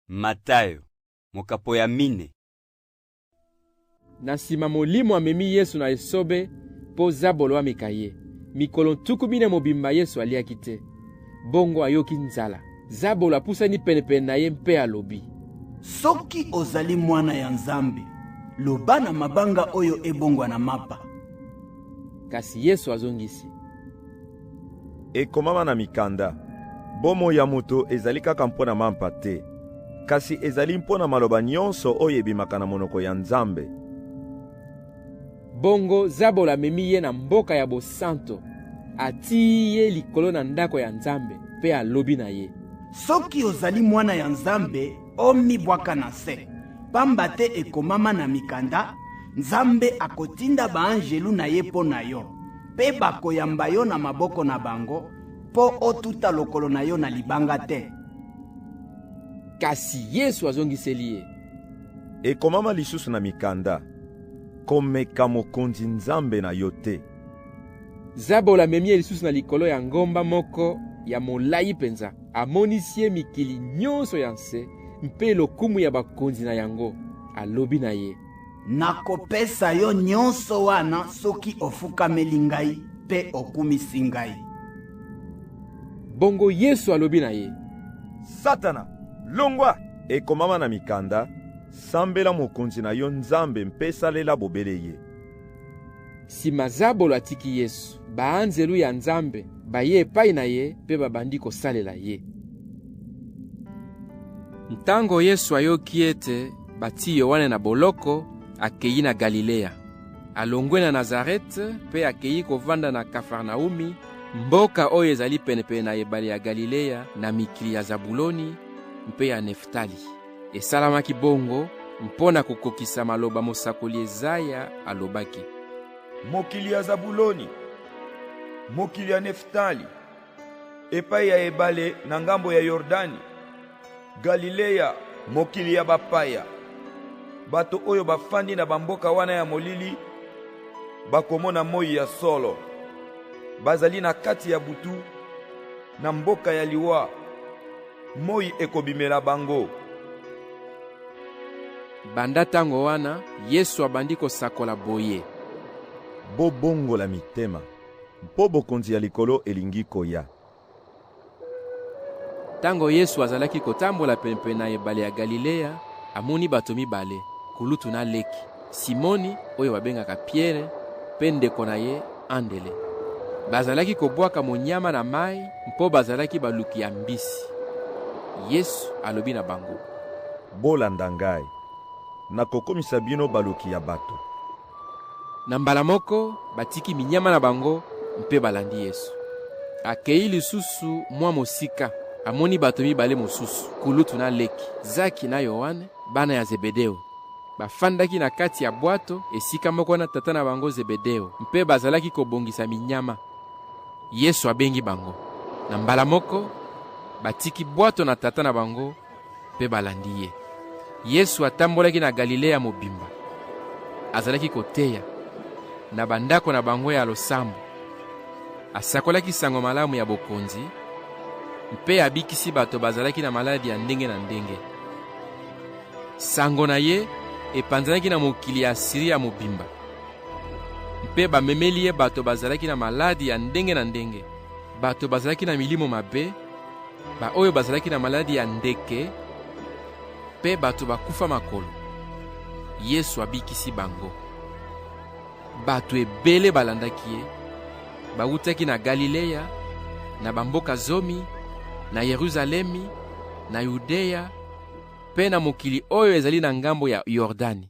Matayo, mokapo ya mine. Na nsima Molimo amemi Yesu na esobe mpo zabolo ameka ye. Mikolo ntuku mine mobimba Yesu aliaki te. Bongo ayoki nzala. Zabolo apusani penepene na ye mpe alobi. Soki ozali mwana ya Nzambe, loba na mabanga oyo ebongwana mapa. Kasi Yesu azongisi. Ekomama na mikanda, bomoi ya moto ezali kaka mpo na mampa te, kasi ezali mpo na maloba nyonso oyo ebimaka na monoko ya Nzambe. Bongo Zabolo amemi ye na mboka ya bosanto, atii ye likolo na ndako ya Nzambe, mpe alobi na ye, Soki ozali mwana ya Nzambe, omibwaka na se, pamba te ekomama na mikanda, Nzambe akotinda baanjelu na ye mpo na yo mpe bakoyamba yo na maboko na bango mpo otuta lokolo na yo na libanga te. Kasi Yesu azongiseli ye. Ekomama lisusu na mikanda, komeka mokonzi Nzambe na yo te. Zabolo amemi ye lisusu na likolo ya ngomba moko ya molai mpenza, amonisi ye mikili nyonso ya nse mpe lokumu ya bakonzi na yango, alobi na ye. Nakopesa yo nyonso wana soki ofukameli ngai mpe okumisi ngai. Bongo Yesu alobi na ye, Satana, longwa! Ekomama na mikanda, Sambela mokonzi na yo Nzambe mpe salela bobele ye. Sima Zabolo atiki Yesu, baanzelu ya Nzambe baye epai na ye mpe babandi kosalela ye. Ntango Yesu ayoki ete Batii Yoane na boloko, akei na Galilea. Alongwe na Nazarete mpe akei kovanda na Kafarnaumi, mboka oyo ezali penepene na ebale ya Galilea, na mikili ya Zabuloni mpe ya Neftali. Esalamaki bongo mpo na kokokisa maloba mosakoli Ezaya alobaki. Mokili ya Zabuloni, mokili ya Neftali. epai ya ebale na ngambo ya Yordani, Galileya, mokili ya bapaya. Bato oyo bafandi na bamboka wana ya molili bakomona moi ya solo. Bazali na kati ya butu, na mboka ya liwa, moi ekobimela bango. Banda ntango wana, Yesu abandi kosakola boye. Bobongola mitema, Mpo bokonzi ya likolo elingi koya. Tango Yesu azalaki kotambola penepene na ebale ya Galileya, amoni bato mibale, kulutu na leki, Simoni oyo babengaka Piere, mpe ndeko na ye Andele. Bazalaki kobwaka monyama na mai mpo bazalaki baluki ya mbisi. Yesu alobi na bango, Bolanda ngai, nakokomisa bino baluki ya bato. Na mbala moko, batiki minyama na bango mpe balandi Yesu. Akei lisusu mwa mosika, amoni bato mibale mosusu, kulutu na leki, Zaki na Yoane, bana ya Zebedeo. Bafandaki na kati ya bwato esika moko na tata na bango Zebedeo mpe bazalaki kobongisa minyama. Yesu abengi bango. Na mbala moko, batiki bwato na tata na bango mpe balandi ye. Yesu atambolaki na Galilea mobimba. Azalaki koteya na bandako na bango ya losambo. Asakolaki sango malamu ya bokonzi mpe abikisi bato bazalaki na maladi ya ndenge na ndenge. Sango na ye epanzanaki na mokili ya Asiria mobimba, mpe bamemeli ye bato bazalaki na maladi ya ndenge na ndenge, bato bazalaki na milimo mabe baoyo bazalaki na maladi ya ndeke mpe bato bakufa makolo. Yesu abikisi bango. Bato ebele balandaki ye, bawutaki na Galileya, na bamboka zomi, na Yeruzalemi, na Yudeya mpe na mokili oyo ezali na ngambo ya Yordani.